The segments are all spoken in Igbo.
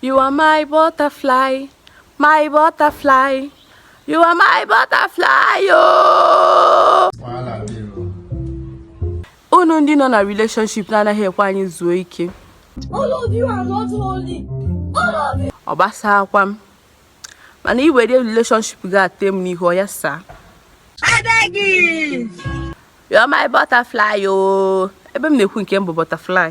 You are my butterfly, my butterfly. You are my butterfly, oh. Unu ndị nọ na relationship na-anaghị ekwe anyị zuo ike. All of you are not holy. All of you. Ọ gbasaakwa m. Mana i were relationship ga-ate m n'ihu ya saa. I beg you. You are my butterfly, oh. Ebe m na-ekwu nke m bụ butterfly.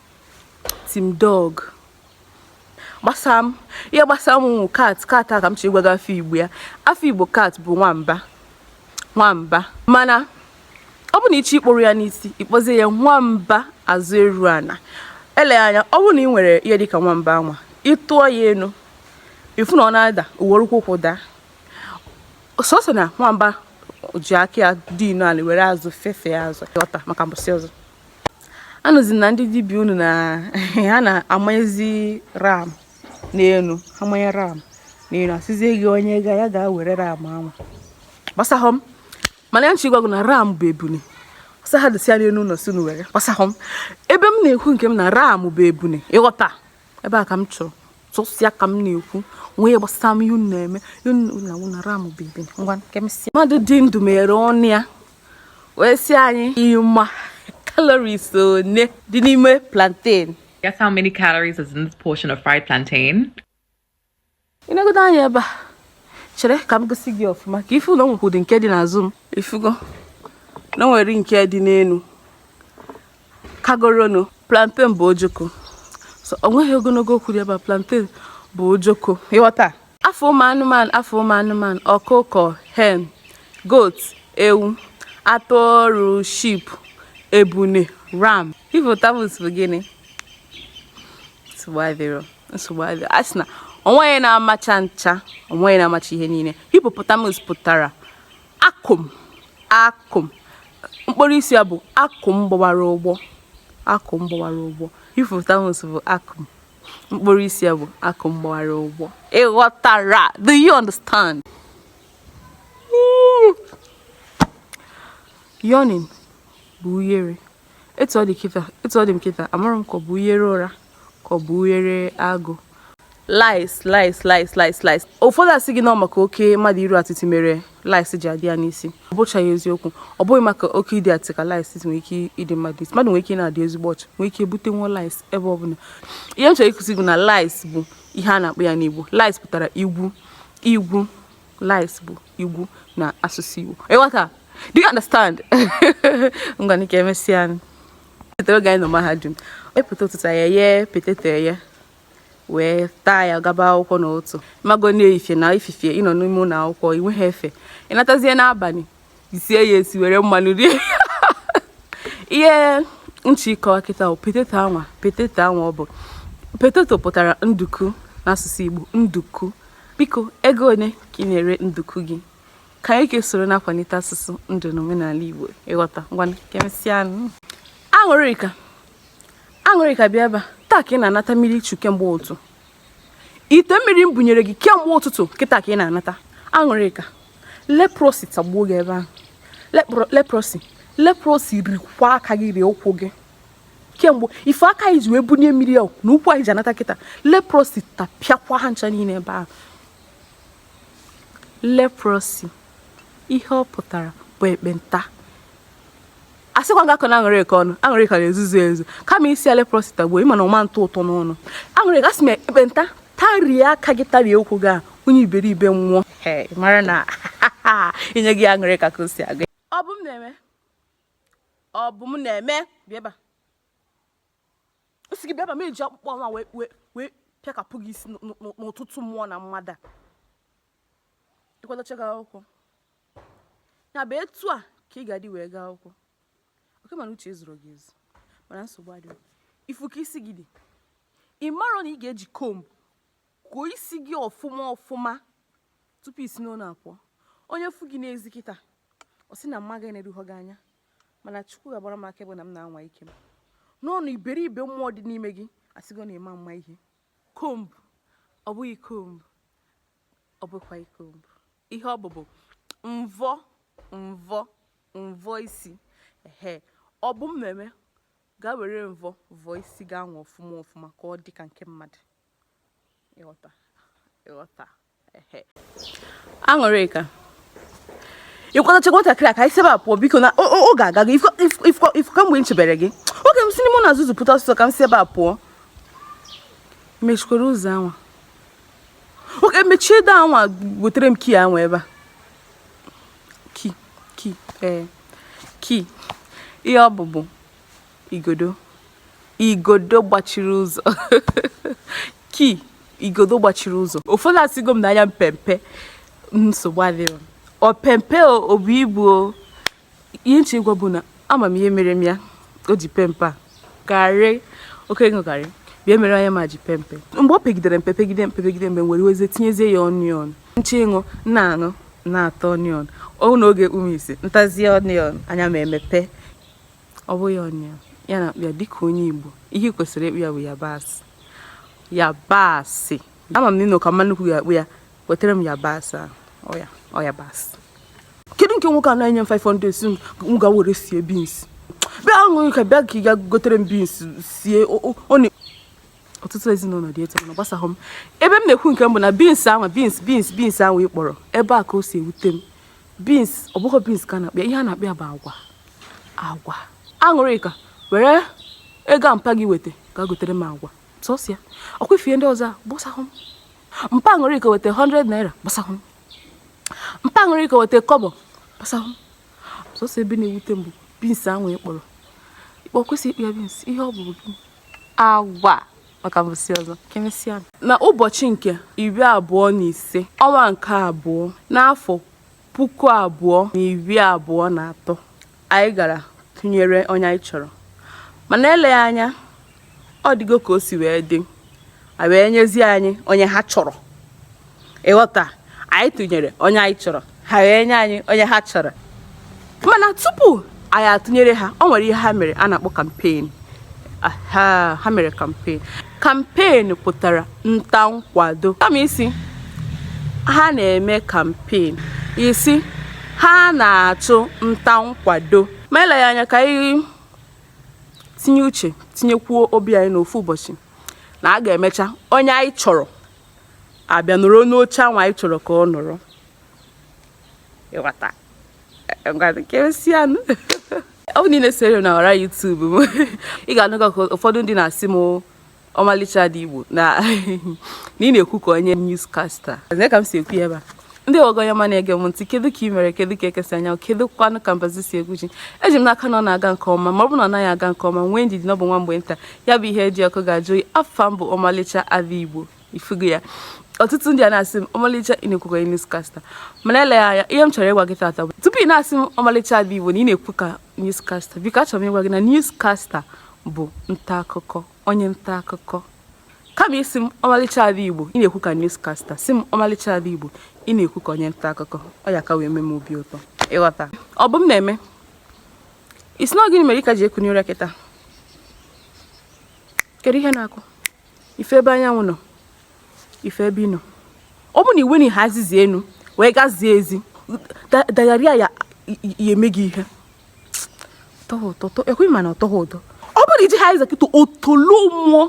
team dog gbasa m ihe gbasa m wụ cat cat a ka m chọrọ ịgwa gị afa igbo ya afa igbo cat bụ nwamba nwamba mana ọ bụ na ị chọọ ịkpọru ya n'isi ị kpọzie ya nwamba azụ eru ana eleghị anya ọ bụrụ na i nwere ihe dịka nwamba anwa ị tụọ ya enu ị fụ na ọ na-ada o were ụkwụ ụkwụ daa sọsọ na nwamba ji aka ya dinie ala were azụ fefe azụ ọta maka mbọsị ọzọ anụzi na ndị dibịa unu na ha na-amanyezi ram n'elu a manye ram n'elu a sịzie gị onye gaa ya ga-ewere ram anwa gbasahụ m mana ihe m chọ ịgwa gị na ram bụ ebune ọ sọ ha dịsịa n'elu ụlọ si were gbasahụ m ebe m na-ekwu nke m na ram bụ ebune ị ghọta ebe a ka m chọrọ sọsọ ya ka m na-ekwu o nweghị ihe gbasara m ihe unu na-eme unu na ram bye bye ngwa kemesịa mmadụ dị ndụ mere ọnụ ya wee sị anyị ị ma calories one dị n'ime plantain guess how many calories is in this portion of fried plantain ị negodo anya ebe a chere ka m gosi gị ọfụma ka ị fụ na o nwekwudị nke dị n'azụ m ị fụgo na e nwere nke dị n'elu kagoronu plantain bụ ojoko so o nweghị ogologo okwu dị ebe a plantain bụ ojoko ị ghọta afa ụmụ anụmanụ afa ụmụ anụmanụ ọkụkọ hen goat ewu atụrụ sheep ebune ram hippopotamus bụ gịnị nsogbu adịrọ nsogbu adịrọ a sị na onweghị na-amacha ncha onweghị na-amacha ihe niile hippopotamus pụtara akụm akụm mkpọru isi ya bụ akụm gbawara ụgbọ akụm gbawara ụgbọ hippopotamus bụ akụm mkpọru isi ya bụ akụm gbawara ụgbọ ị ghọtara do you understand yawning bụ uyere etu ọ dị kịta etu ọ dị m kịta amarọ m ka ọ bụ uyere ụra ka ọ bụ uyere agụụ lice lice lice lice lice ụfọdụ asị gị na maka oke mmadụ iru atịtị mere lice ji adị ya n'isi ọ bụchaghị eziokwu ọ bụghị maka oke ịdị atịtị ka lice nwere ike ịdị mmadụ isi mmadụ nwere ike na-adị ezigbo ọcha nwere ike ebute nwa lice ebe ọ bụla ihe m chọrọ ịkụzi gị na lice bụ ihe a na-akpọ ya n'igbo lice pụtara igwu igwu lice bụ igwu na asụsụ igbo ịghọta do you understand ngwa ka emesịa chetara oge anyị nọ mahadum epụta ụtụtụ e yee potato eye wee taa ya gaba akwụkwọ n'ụtụtụ mago na efifie na efifie ịnọ n'ime ụlọ akwụkwọ inweghị efe ịnatazie n'abalị isie ya esi were mmanụ rie ihe m chọ ịkọwa kịta potato anwa potato anwa ọ bụ potato pụtara nduku n'asụsụ Igbo nduku Biko, ego one ka ị na-ere nduku gị? Ka anyị kesoro na-akwalite asụsụ ndụ na omenala Igbo ịghọta ngwa ka emesịa aṅụrịka aṅụrịka bịa ebe a taa ka ị na-anata mmiri ichu kemgbe ụtụtụ ite mmiri m bunyere gị kemgbe ụtụtụ kịta ka ị na-anata aṅụrịka leprosy tagbuo gị ebe ahụ leprosy leprosy rikwa aka gị rie ụkwụ gị kemgbe ife aka anyị ji wee bunye mmiri a na ụkwụ anyị ji anata kịta leprosy tapịakwa ha ncha niile ebe ahụ leprosy ihe ọ pụtara bụ ekpenta a sịkwa gị akọna aṅụrịka ọnụ aṅụrịka na-ezuzu ezuzu kama ịsị leprosy tagbuo ịma na ọ ma atọ ụtọ n'ọnụ aṅụrịka asị m ekpenta tarie aka gị tarie ụkwụ gị a onye iberibe nwụọ mara na inye gị aṅụrịka ka o si aga ọ bụ m na-eme ọ bụ m na-eme bịa ebe a m sị gị bịa ebe a m eji akpụkpọ nwa wee wee wee pịakapụ gị isi n'ụ- n'ụ- n'ụtụtụ mmụọ na mmadụ a ịkwadochago akwụkwọ ya bụ etu a ka ị ga-adị wee gaa akwụkwọ oke mana uche zuru gị ezu mana nsogbu adịghị ịfụ ka isi gị dị ị marọ na ị ga-eji comb kụọ isi gị ọfụma ọfụma tupu isi n'ụlọ apụọ onye fụ gị n'ezi kịta ọ sị na mma gị na-eruhọ gị anya mana chukwu ga-agbara m akaebe na m na-anwa ike m n'ọnụ iberibe mmụọ dị n'ime gị asịgo na ị ma ama ihe comb ọ bụghị comb ọ bụkwa comb ihe ọ bụ bụ mvọ mvọ mvọ isi ehe ọ bụ m na-eme gaa were mvọ vọọ isi gị anwa ọfụma ọfụma ka ọ dị ka nke mmadụ ịghọta ịghọta ehe aṅụrịka ịkwadocha nwatakịrị a ka anyị si ebe a pụọ biko na oge agago ifụ kamgbe m chebere gị oge m si n'ime ụlọ ezuzu pụta ọsịsọ ka m si ebe a pụọ mechikwara ụzọ anwa oge mechie door anwa wetara m key anwa ebe a key key ee key ihe ọ bụ bụ igodo igodo gbachiri ụzọ key igodo gbachiri ụzọ ụfọdụ asịgo m na anya m pe mpe nsogbu adịrọ o pe mpe o bu ibu o ihe m chọ ịgwa bụ na ama m ihe mere m ya o ji pe mpe ọ garri oke ịṅụ garri bịa mere anya m a ji pe mpe mgbe o pegidere mpe pegide mpe pegide mgbe m wee wezie tinyezie ya onion nche ịṅụ na-aṅụ na-ata onion ọ n'oge ume ise m tazie onion anya m a emepe Ọ bụghị onion ya na-akpọ ya dịka onye Igbo. Ihe ị kwesịrị ịkpọ ya bụ yabasị. Yabasị. Ama m na ị nọ ka mama nnukwu ga-akpọ ya. Wetara m yabasị ahụ. Ọ ya. Ọ yabasị. Kedu nke nwoke a na-enye m 500 si m ga were sie beans? Bịa Aṅụrịka bịa ka ị ga gotere m beans sie ọ na ọtụtụ ezinụlọ dị etu mana gbasaghị m ebe m na-ekwu nke m bụ na beans ahụ beans beans beans ahụ ị kpọrọ ebe a ka o si ewute m beans ọ bụghị beans ka a na-akpọ ya ihe a na-akpọ ya bụ agwa agwa Aṅụrịka were ego a mpa gị weta ga gotere m agwa sọsọ ya ọkwa ife ndị ọzọ agbasahụ m mpa Aṅụrịka weta 100 naira gbasahụ m mpa Aṅụrịka weta kọbọ gbasahụ m sọsọ ebe na-ewute m bụ beans ahụ ị kpọrọ ịkpọ kwesị ịkpọ ya beans ihe ọ bụ bụ agwa maka mbọsị ọzọ ka emesịa na ụbọchị nke iri abụọ na ise ọnwa nke abụọ n'afọ puku abụọ na iri abụọ na atọ anyị gara tụnyere onye anyị chọrọ mana eleghị anya ọ dịgo ka o si wee dị a wee nyezie anyị onye ha chọrọ ị ghọta anyị tụnyere onye anyị chọrọ ha wee nye anyị onye ha chọrọ mana tupu anyị atụnyere ha ọ nwere ihe ha mere a na-akpọ campaign ha mere campaign Campaign pụtara nta nkwado. Kama ị sị ha na-eme campaign, ị sị ha na-achụ nta nkwado. Ma eleghị anya ka anyị tinye uche tinyekwuo obi anyị n'ofu ụbọchị na a ga-emecha onye anyị chọrọ abịa nọrọ n'oche anwa anyị chọrọ ka ọ nọrọ ị ghọta ka emesịanụ ọ bụ niile sere na ọwa YouTube m ị ga-anụga ka ụfọdụ ndị na-asị m Ọmalịcha Ada Igbo na ị na-ekwu ka onye newscaster ka m si ekwu ya ebe a ndị ogoyoma na-ege m ntị kedu ka ị mere kedu ka eke si anya kedu kwanụ ka mbazụ si egwu ji eji m n'aka na ọ na-aga nke ọma ma ọ bụ na ọ naghị aga nke ọma nwee ndidi na ọ bụ nwa mgbe nta ya bụ ihe dị ọkụ ga-ajụ oyi afa m bụ Ọmalịcha Ada Igbo ifugo ya ọtụtụ ndị a na-asị m ọmalịcha ị na-ekwu ka onye newscaster mana eleghị anya ihe m chọrọ ịgwa gị tata bụ tupu ị na-asị m ọmalịcha ada igbo na ị na-ekwu ka newscaster biko achọrọ m ịgwa gị na newscaster bụ nta akụkọ onye nta akụkọ kama ị sị m ọmalịcha ada igbo ị na-ekwu ka newscaster sị m ọmalịcha ada igbo ị na-ekwu ka onye nta akụkọ ọ ya ka wee mee m obi ụtọ ị ghọta ọ bụ m na-eme isi na gịnị mere ị ka ji ekunye ụra kịta kedu ihe na-akụ ị fụ ebe anyanwụ nọ ị fụ ebe ị nọ ọ bụ na iwe na ihe azizi enu wee gazie ezi dagharịa ya ya eme gị ihe ekweghị mana ọ tọghị ụtọ ọ bụrụ i ji ha eze kịta otolo mmụọ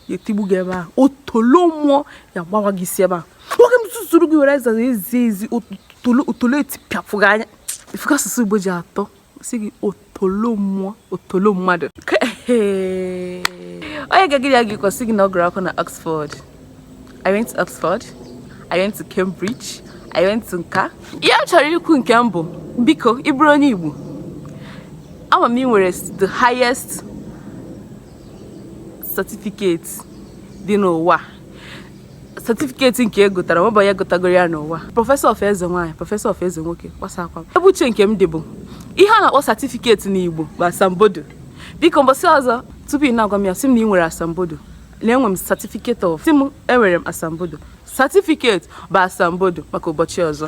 ya etigbu gị ebe ahụ otolo mmụọ ya gbawa gị isi ebe ahụ nwoke m zuzuru gị were ezi otolo etipịapụ gị anya ị fụ ka asụsụ igbo ji atọ sị gị otolo mmụọ otolo mmadụ onye ga-egide ya gị kwasị gị na ọ gụrụ akwụkwọ na Oxford I went to Oxford I went to Cambridge I went to nka ihe m chọrọ ikwu nke m bụ biko ị bụrụ onye Igbo ama m ị nwere the highest certificate dị n'ụwa satifiketi nke e gotara nwebụ onye gotagoro ya n'ụwa prọfesọ of eze nwaanyị prọfesọ of eze nwoke gbasakwa ebe uche nke m dị bụ ihe a na-akpọ satifiketi n'igbo bụ asambodo biko mbọsị ọzọ tupu ị na-agwa m ya sị m na ị nwere asambodo na enwe m satifiketi of sị m enwere m asambodo satifiketi bụ asambodo maka ụbọchị ọzọ